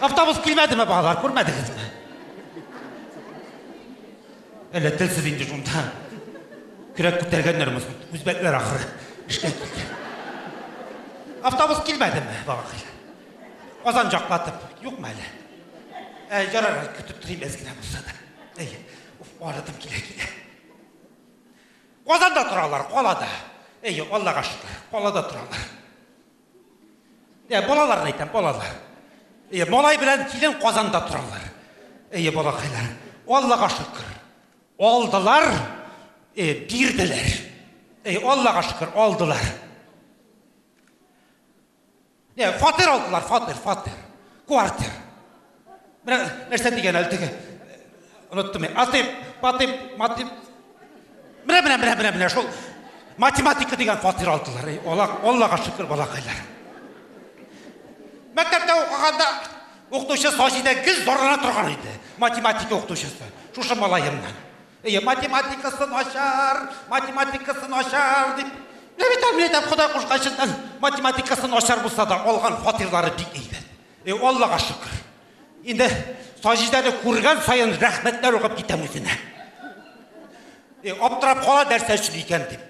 Автобус килмәдеме, балалар, күрмәдегезме? Әллә телсез инде шунда. Көрәк күтәргәннәр мосын, үзбәкләр ахыры. Эшкә килде. Автобус килмәдеме, балакайлар? Казан жаклатып, юкмы әле? Ә, ярар, көтеп торыйм әз генә булса да. Әйе, уф, арыдым килә килә. Казанда торалар, калада. Әйе, Аллага шөкер, калада торалар. Ә балаларны әйтәм, балалар. Әйе, малай белән килен Казанда торалар. Әйе, балакайлар. Аллага шөкер. Алдылар, э, бирделәр. Әйе, Аллага шөкер, алдылар. Ә, фатир алдылар, фатир, фатир. Квартир. Менә нәрсә дигән әле теге. Оныттым я. Атыйм, батыйм, матыйм. Менә, менә, менә, менә, менә, шул. Математика дигән фатир алдылар. Эй, Алла, Аллага шөкер, балакайлар. Мәктәптә укыганда укытучы Саҗидә гел зарлана торган иде. Математика укытучысы. Шушы малаемнан. Әйе, математикасы начар, математикасы начар дип. Менә бит әле әйтәм, Ходай кушканчыннан математикасы начар булса да, алган фатирлары бик әйбәт. Э, Аллага шөкер. Инде Саҗидәне күргән саен рәхмәтләр укып китәм үзенә. Э, аптырап кала нәрсә өчен икән дип.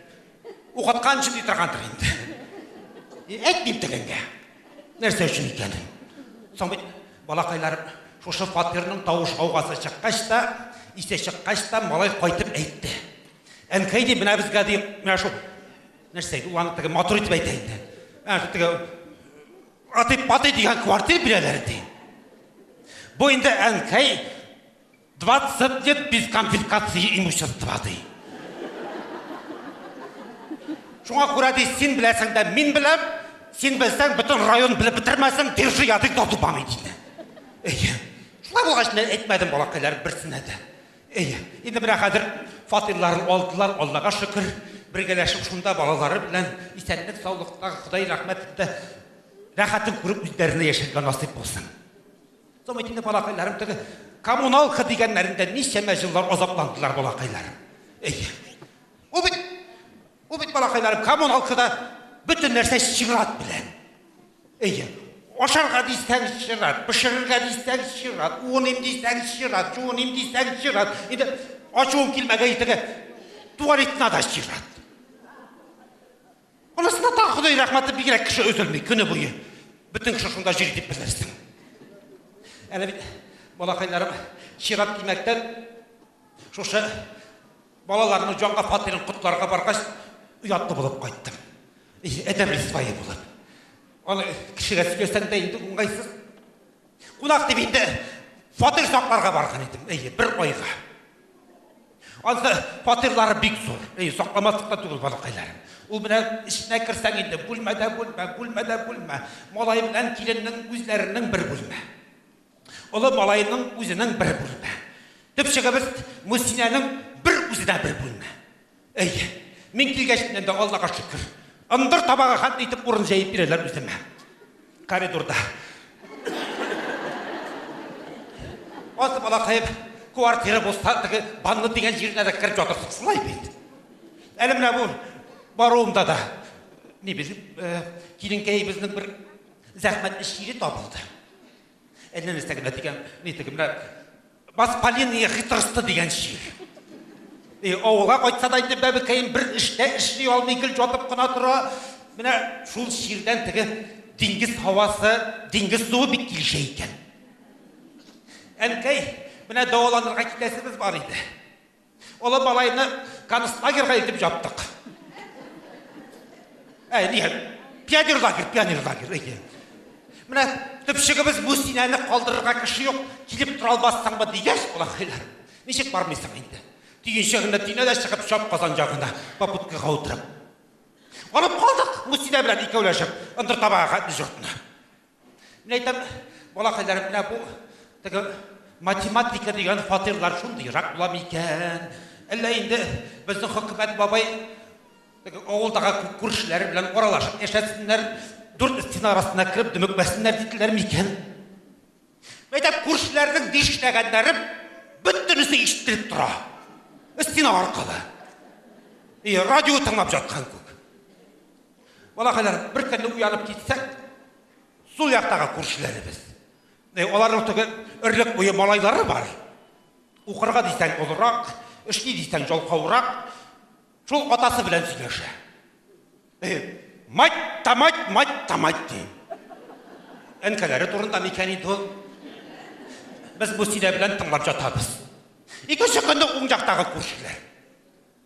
Укыткан өчен ди торгандыр инде. Э, әйтмим тегенгә. Нәрсә өчен икән? Соң бит балакайлар шушы фатирның тавыш гаугасы чыккач та, исе чыккач та малай кайтып әйтте. Әнкәй ди, менә безгә ди, менә шул нәрсә, ул аны теге матур итеп әйтә инде. Ә, теге Атый патый дигән квартир бирәләр ди. Бу инде әнкәй 20 лет без конфискации имущества ди. Шуңа күрә ди, син беләсең дә мин беләм, син белсәң бөтен район белеп бетермәсен, держи язык да тупами диде. Әйе. Шулай булгач, мин әйтмәдем балакайлар берсенә дә. Әйе, инде менә хәзер фатирларын алдылар, Аллага шөкер, бергәләшеп шунда балалары белән исәнлек саулыкта, Ходай рәхмәтендә рәхәтен күреп үзләренә яшәргә насыйп булсын. Соң бит инде балакайларым теге коммуналка дигәннәрендә ничәмә җыллар азапландылар балакайларым. Әйе. Ул бит, ул бит балакайларым коммуналкада бөтен нәрсә чират белән. Әйе. Ашарга дисәгез чират, пешерергә дисәгез чират, уыным дисәгез чират, чуыным дисәгез чират. Инде ачуым килмәгән итеге туалетна да чират. Анысына тагы Ходай рәхмәте бигрәк кеше өзелми көне буе. Бөтен кеше шунда җир дип белерсең. Әле бит балакайларым чират димәктән шушы Балаларның җанга фатирын котларга баргач, оятлы булып кайттым. Әдәм рисвае булып. Аны кешегә сөйләсәң дә инде уңайсыз. Кунак дип инде фатир сакларга барган идем. Әйе, бер айга. Ансы фатирлары бик зур. Әйе, сакламаслык та түгел балакайларым. Ул менә эченә керсәң инде бүлмәдә бүлмә, бүлмәдә бүлмә. Малай белән киленнең үзләренең бер бүлмә. Олы малайның үзенең бер бүлмә. Төп чыгыбыз Мусинәнең бер үзе дә бер бүлмә. Әй, мин килгәчтен дә Аллага шөкер. Ындыр табага хат итеп урын җәеп бирәләр үземә. Коридорда. Аз балакаеп, квартира булса, теге банны дигән җиренә дә кереп ятырсыз шулай бит. Әле менә бу баруымда да ни без э, киленкәебезнең бер зәхмәтле чире табылды. Әллә нәрсә генә дигән, ни теге менә Бас Полиния хитрысты дигән шигырь. И авылга кайтса да инде бәбекәем бер эштә эшли алмый, гел ятып кына тора. Менә шул шигырьдән теге диңгез һавасы, диңгез суы бик килешә икән. Әнкәй, менә дәваланырга китәсебез бар иде. Олы малайны концлагерьга илтеп җаптык. Әй, дигән, пионер лагерь, пионер лагерь, әйе. Менә төпчегебез бу синәне калдырырга кеше юк, килеп тора алмассыңмы дигәч, улакайлар. Ничек бармыйсың инде? Төенчегенә тине дә чыгып, чап казан ягына попуткага утырып. Алып калдык, Мусинә белән икәүләшеп, ындыр табага дежуртны. Менә әйтәм, балакайларым, менә бу теге математика дигән фатирлар шундыйрак була микән? Әллә инде безнең хөкүмәт бабай теге авылдагы күршеләре белән аралашып яшәсеннәр, дүрт стена арасына кереп дөмекмәсеннәр диделәр микән? Әйтәм, күршеләрнең дишләгәннәре бөтенесе ишетелеп тора. Стена аркылы. И радио тыңлап жаткан күк. Балакайлар, бер көнне уянып китсәк, сул яктагы күршеләребез. Э, аларның теге өрлек буе малайлары бар. Укырга дисәң олырак, эшли дисәң жалкаурак. Шул атасы белән сөйләшә. Э, мать та мать, мать та мать ди. Әнкәләре турында микән инде ул? Без бу сөйлә белән тыңлап жатабыз. Икенче көнне уң яктагы күршеләр.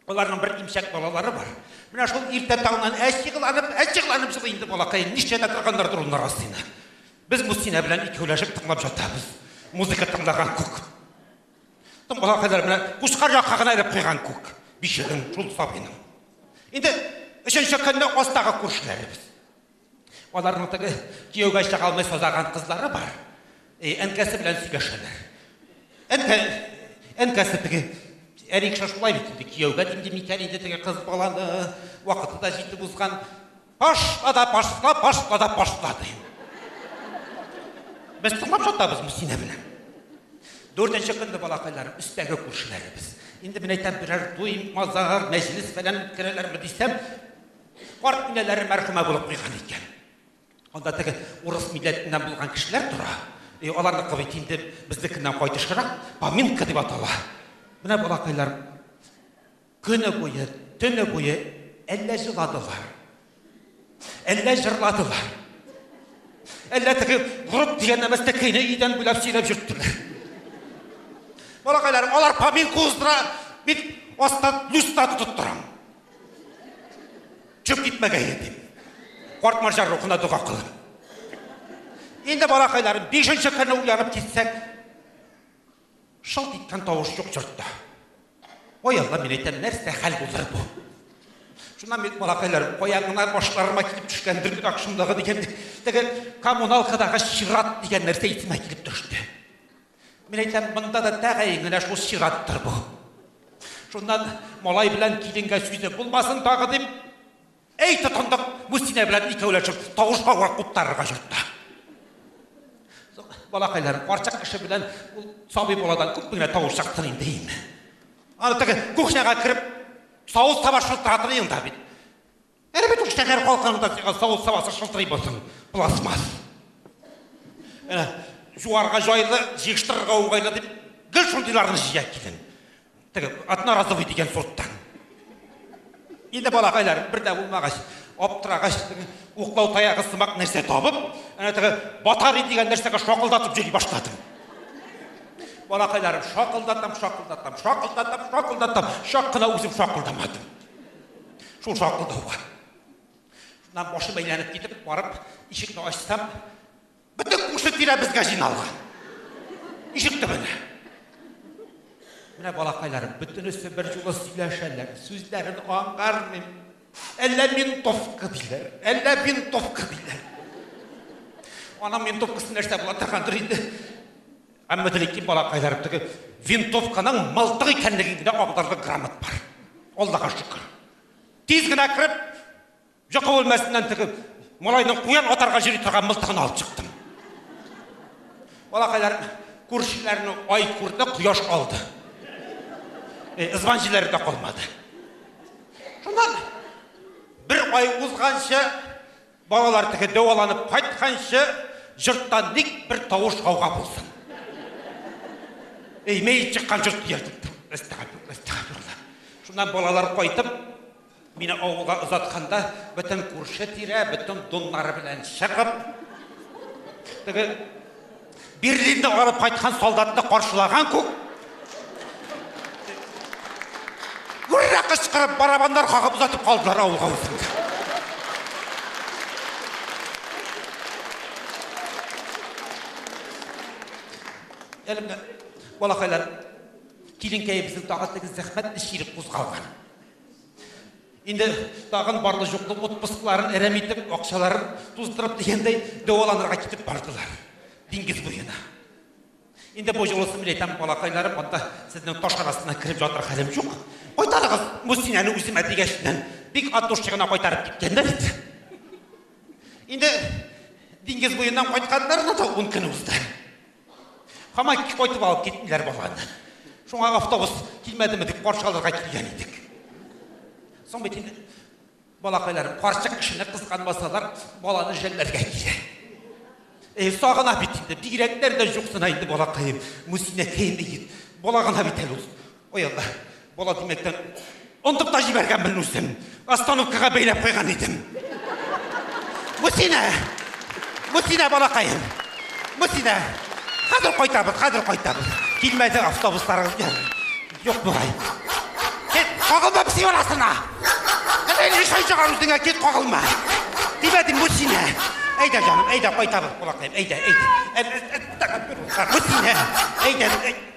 Аларның бер имчәк балалары бар. Менә шул иртә таңнан әҗигланып, әҗигланып җылый инде балакаем. Ничә дә торганнар дурыннар астына. Без Мустина белән икәүләшеп тыңлап ятабыз. Музыка тыңлаган күк. Тон балакайлар менә кушкар якка гына элеп куйган күк. Бишеген шул сабыйның. Инде өченче көнне астагы күршеләребез. Аларның теге кияүгә чыгалмый сазаган кызлары бар. Э, әнкәсе белән сөйләшәләр. Әнкә әнкәсе теге Эрик шулай бит инде кияүгә димди микән инде теге кыз баланы вакыты да җитеп узган. Пашла да пашла, пашла да пашла ди. Без тыңлап жатабыз Мусина белән. Дүртенче көнне балакайлар, өстәге күршеләребез. Инде мен әйтәм, берәр туй, мазар, мәҗлес фәлән үткәрәләрме дисәм, Карт инәләре мәрхүмә булып куйган икән. Анда теге урыс милләтеннән булган кешеләр тора. И аларны кабит инде безнекеннән кайтышырак, поминка дип атала. Менә балакайлар көне буе, төне буе әллә җыладылар. Әллә җырладылар. Әллә теге групп дигән нәмәстә көйне идән буйлап сөйләп йөрттеләр. Балакайлар, алар поминка уздыра, мин астан люстра тотып торам. Чүп китмәгәе дип. Карт марҗа рухына дога кылыр. Инде балакайларым, бишенче көнне уянып китсәк, шылт иткән тавыш юк йортта. Ой, Алла, мин әйтәм, нәрсә хәл булыр бу? Шуннан бит балакайларым, каян гына башларыма килеп төшкән бөркет акшымдагы дигән, теге коммуналкадагы чират дигән нәрсә исемә килеп төште. Мин әйтәм, монда да тәгаен генә шул чираттыр бу. Шуннан малай белән киленгә сүзе булмасын тагы дип, әй тотындык, Мустинә белән икәүләшеп тавышка вак куптарырга йортта. Балакайлар, карчык кеше белән ул сабый баладан күп генә тавыш чыктын инде инде. Аны теге кухняга кереп, савыт таба шылтыратыр елда бит. Әле бит шәһәр халкында сиңа савыт сабасы шылтырый булсын, пластмасс. Әнә, жуарга жайлы, җыештырырга уңайлы дип, гел шундыйларны җыя килдем. Теге одноразовый дигән сорттан. Инде балакайлар бер дә булмагач, аптырагач, уклау таягы сымак нәрсә табып, әнә теге батари дигән нәрсәгә шакылдатып җөри башладым. Балакайларым шакылдатам, шакылдатам, шакылдатам, шакылдатам, шак кына үзем шакылдамадым. Шул шакылдауга. Шуннан башым әйләнеп китеп, барып, ишекне ачсам, бөтен күрше тирә безгә җыйналган. Ишек төбенә. Менә балакайларым, бөтенесе бер юлы сөйләшәләр, сүзләрен аңлармыйм. Әллә ментовка диләр, әллә винтовка диләр. Анам ментовкасы нәрсә була торгандыр инде. Әмма Дәлики балакайлар теге винтовканың мылтык икәнлеген генә аңларлык грамот бар. Аллага шөкер. Тиз генә кереп, йокы бүлмәсеннән теге малайның куян атарга җөри торган мылтыгын алып чыктым. Балакайлар күршеләрне ай күрде, кояш алды. Э, Ызбан җилләре дә калмады. Шуннан бер ай узганчы Балалар теге дәваланып кайтканчы җортта ник бер тавыш гауга булсын. Эй, мәет чыккан җорт диярдек. Әстәгәфир, әстәгәфирулла. Шуннан балалар кайтып, мине авылга озатканда, бөтен күрше тирә, бөтен доннары белән чыгып, теге Берлинны алып кайткан солдатны каршылаган күк Гүррә кычкырып, барабаннар кагып озатып калдылар авылга үзеңдә. Әлемнәр, балакайлар, киленкәебезнең тагы теге зәхмәт эш кирек кузгалган. Инде тагын барлы-җуклы отпускларын әрәм итеп, акчаларын туздырып дигәндәй, дәваланырга китеп бардылар. Диңгез буена. Инде бу юлысын мин әйтәм, балакайларым, анда сезнең таш арасына кереп ятыр хәлем юк. Кайтарыгыз Мусинәне үземә дигәч, бик ат душчыгына кайтарып киткәннәр бит. Инде диңгез буеннан кайтканнарына да ун көн узды. Хамай кайтып алып киттеләр баланы. Шуңа автобус килмәдеме дип каршы алырга килгән идек. Соң бит инде балакайларым карчык кешене кызганмасалар, баланы жәлләргә килә. Э, сагына бит инде, бигрәкләр дә юксына инде балакаем. Мусинәкәем бит. Балагына бит әле ул. Ой Алла, бала димәктән онтып та җибәргәнмен үзем. Остановкага бәйләп куйган идем. Мусина! Мусина балакаем! Мусина! Хәзер кайтабыз, хәзер кайтабыз. Килмәде автобусларыгыз белән. Юк бугай. Кит, кагылма пси арасына! Кызыл ишай чыгар үзеңә, кит кагылма! Димәдем, Мусина! Әйдә, җаным, әйдә, кайтабыз, балакаем, әйдә, әйдә. Мусина! Әйдә, әйдә.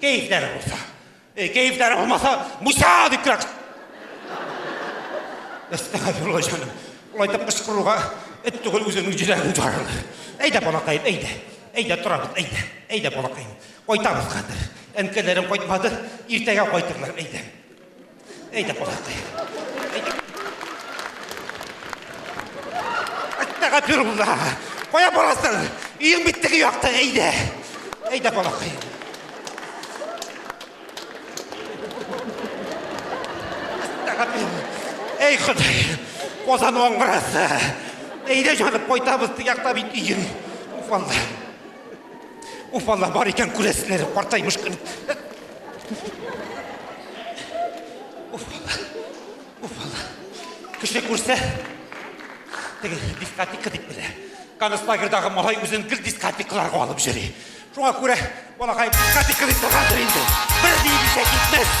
Кәефләре булса. Э, кәефләре булмаса, Муса дип кирәк. Әстәгәфирулла җаным. Улай дип кычкыруга эт түгел үзеңнең җиләгең жарылды. Әйдә, балакаем, әйдә. Әйдә, торабыз, әйдә. Әйдә, балакаем. Кайтабыз хәзер. Әнкәләрем кайтмады, иртәгә кайтырлар, әйдә. Әйдә, кунакта. Әттәгә пирулла. Кая барасың? Өең бит теге якта, әйдә. Әйдә, балакай. Әттәгә пирулла. Әй, Ходай, Казан аңгырасы. Әйдә, җаным, кайтабыз, теге якта бит өең. Уфалла. Уф, алла бар икән күрәсеннәр, картаймыш көн. Уф, алла. Уф, алла. Кеше күрсә, теге дискотека дип белә. Концлагерьдагы малай үзен гел дискотекаларга алып йөри. Шуңа күрә балакай дискотека дип торгандыр инде. Бер ни дисә китмәс.